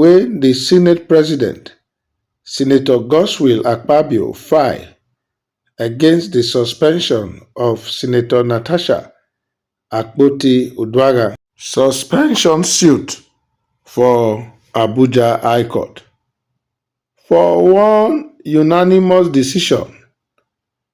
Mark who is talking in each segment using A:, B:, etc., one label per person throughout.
A: wey di senate president senator godswill akpabio file against di suspension of senator natasha akpoti-uduaghan suspension suit for abuja high court. for one unanimous decision,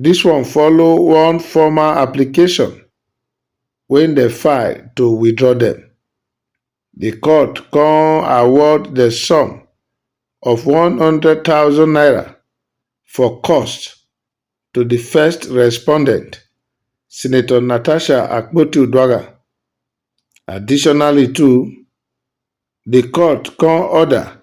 A: Dis one follow one formal application wey dem file to withdraw dem. Di court come award dem sum of one hundred thousand naira for cost to di first respondent, Senator Natasha Akpoti-Uduaghan. Additionally too, di court come order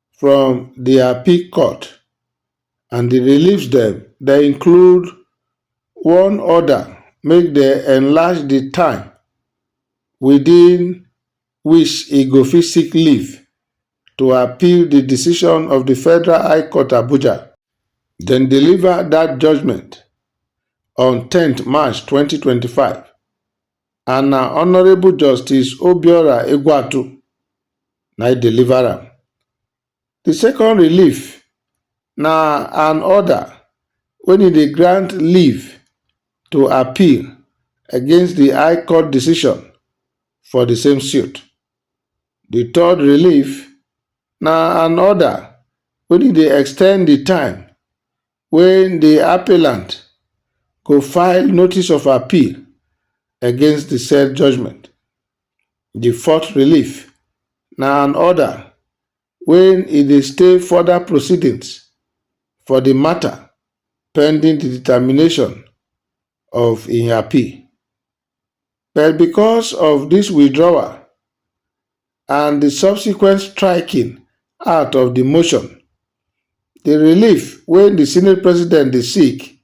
A: from di appeal court and di reliefs dem dem include one order make dem enlarge di time within which e go fit seek leave to appeal di decision of di federal high court abuja dem deliver dat judgement on ten march twenty twenty five and na Honourable Justice Obiora Egwuatu na e deliver am. Di second relief na an order wen e dey grant leave to appeal against di High Court decision for di same suit. Di third relief na an order wen e dey extend di time wen di appellant go file notice of appeal against di said judgement. Di fourth relief na an order wen e dey stay further proceedings for di matter pending di determination of im appeal. But because of dis withdrawal and di subsequent striking out of di motion, di relief wey di senate president dey seek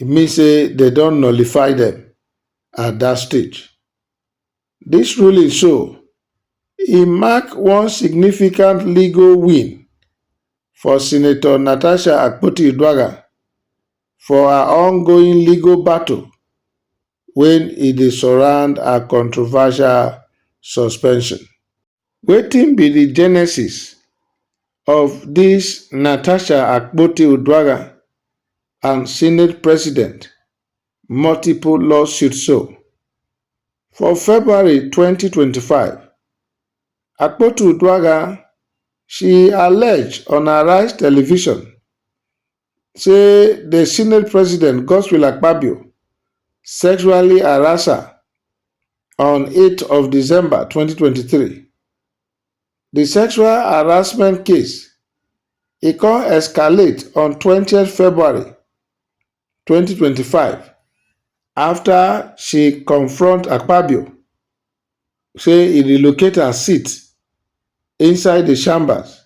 A: e mean say dem don nullify dem at dat stage. Dis ruling so, e mark one significant legal win for Senator Natasha Akpoti-Uduaghan for her ongoing legal battle wey e dey surround her controversial suspension. Wetin be di genesis of dis Natasha Akpoti-Uduaghan and Senate President multiple lawsuit so? For February twenty twenty five, Akpoti-Uduaghan she allege on Arise television say the Senate President Godswill Akpabio sexually harassed her on 8th of December 2023. The sexual harassment case e come escalate on 20th February 2025 after she confront Akpabio say he relocate her seat inside the chambers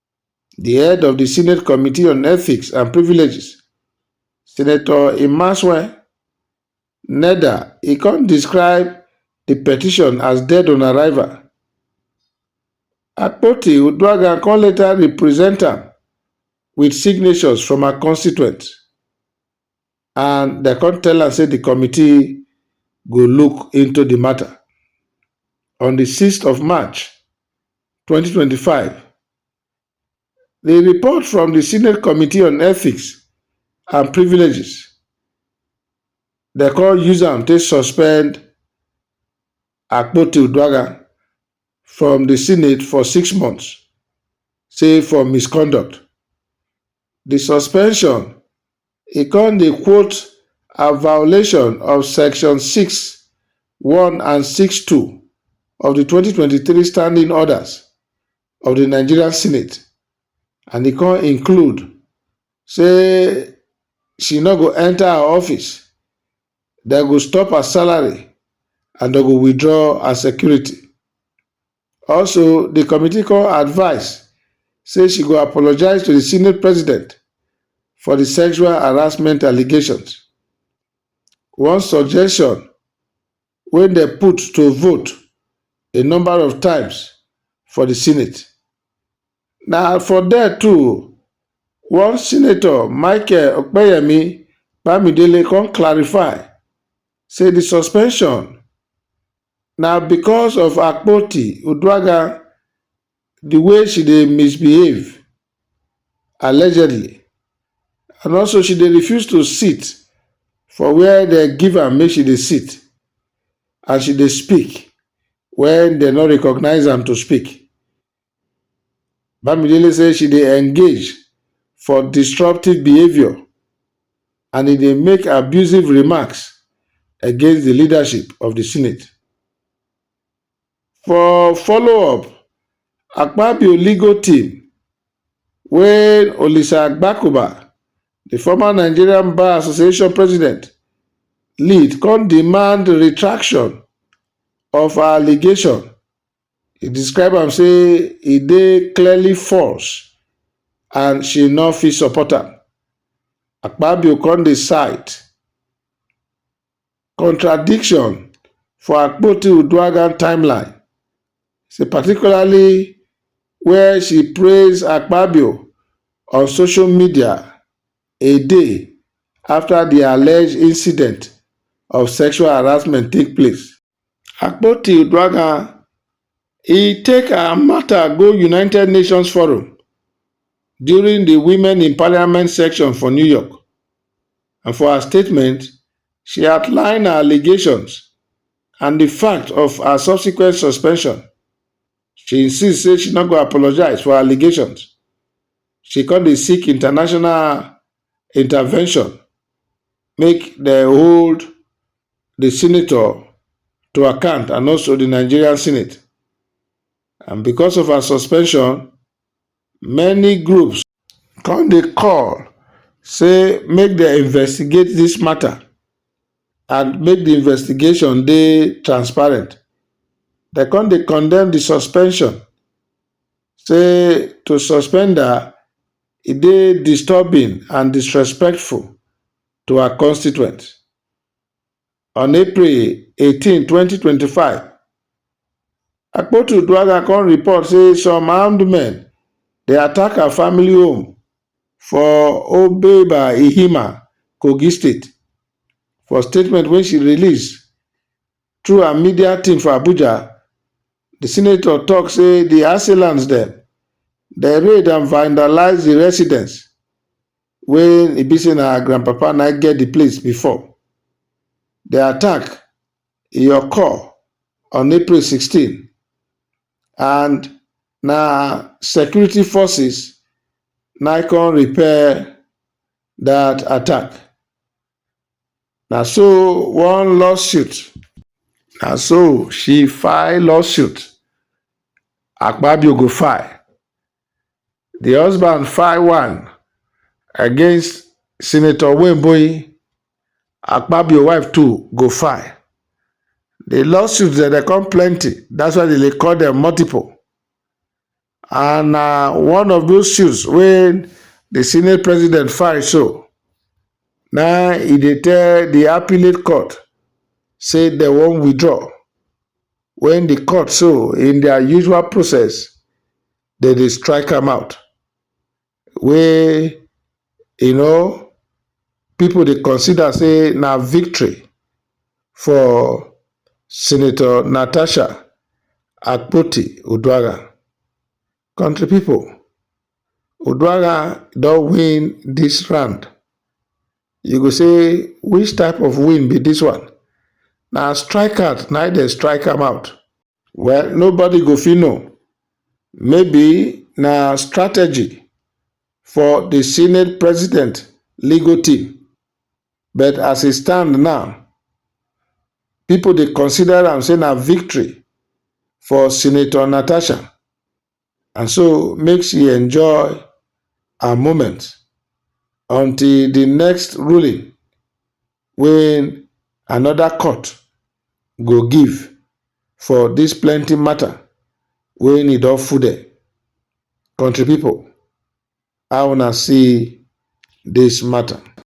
A: Di head of di Senate Committee on Ethics and Privileges, Senator Imasuen Neda e come describe di petition as dead on arrival. Akpoti Uduaghan come later represent am wit signatures from her constituents. and dem come tell am say di committee go look into di matter. On di sixth of March, twenty twenty five, di report from di Senate Committee on Ethics and Privileges dem come use am take suspend Akpoti-Uduaghan from di Senate for six months, say for misconduct. Di suspension E con dey quote a violation of section six, one and six, two of di twenty twenty three standing orders of di Nigerian Senate and e con include say she no go enter her office, dem go stop her salary and dem go withdraw her security. Also, di committee come advise say she go apologise to di senate president for di sexual harassment allegations. One suggestion wey dem put to vote a number of times for di senate. Na for there too, one senator Michael Opeyemi Bamidele come clarify say di suspension Na because of Akpoti Uduaghan, the way she dey misbehave, allegedly, and also she dey refuse to sit for where dem give am make she dey sit and she dey speak when dem no recognise am to speak, Bamidele say she dey engage for disruptive behaviour and e dey make abusive remarks against di leadership of di Senate. For follow-up, Akpabio legal team, wey Olisa Agbakoba, di former Nigerian Bar Association president, lead come demand retraction of her allegation e describe am say e dey clearly false and she no fit support am. Akpabio come dey cite contradiction for Akpoti-Uduaghan timeline, say particularly where she praise Akpabio on social media a day after di alleged incident of sexual harassment take place. Akpoti Uduaghan, e take her matter go United Nations Forum during di Women in Parliament section for New York and for her statement, she outline her allegations and di fact of her subsequent suspension. She insist say she no go apologise for her allegations, she come dey seek international intervention make dem hold the senator to account and also the Nigerian Senate. And because of her suspension, many groups come dey call say make they investigate this matter and make the investigation dey transparent. They come dey condemn the suspension say to suspend her e dey disturbing and disrespectful to her constituents. On April 18, 2025, Akpotu Uduaghan come report say some armed men dey attack her family home for Obeba Ihima, Kogi State. For statement wey she release through her media team for Abuja, di senator tok say di assailants dem dey raid and vandalise di residence. wey e be sey na her grandpapa na im get de place before. De attack e occur on April sixteen and na security forces na im come repel dat attack. Na so one lawsuit, na so she file lawsuit, Akpabio go file di husband file one against senator wemboyi akpabio wife too go file di lawsuit dem dey come plenty that's why dem dey call dem multiple and na one of those suits wey di senate president file so na e dey tell di appellate court say dem wan withdraw wen di court so in dia usual process dem dey strike am out wey um pipo dey consider say na victory for senator natasha akpoti-uduaghan. Country pipo, Oduaghan don win dis round, you go say which type of win be dis one, na strike out na im dem strike am out? Well nobody go fit know, maybe na strategy for di senate president legal team. But as e stand now, pipo dey consider am say na victory for Senator Natasha and so make she enjoy her moment until di next ruling wey anoda court go give for dis plenty mata wey e don fude. Kontri pipo, how una see dis mata?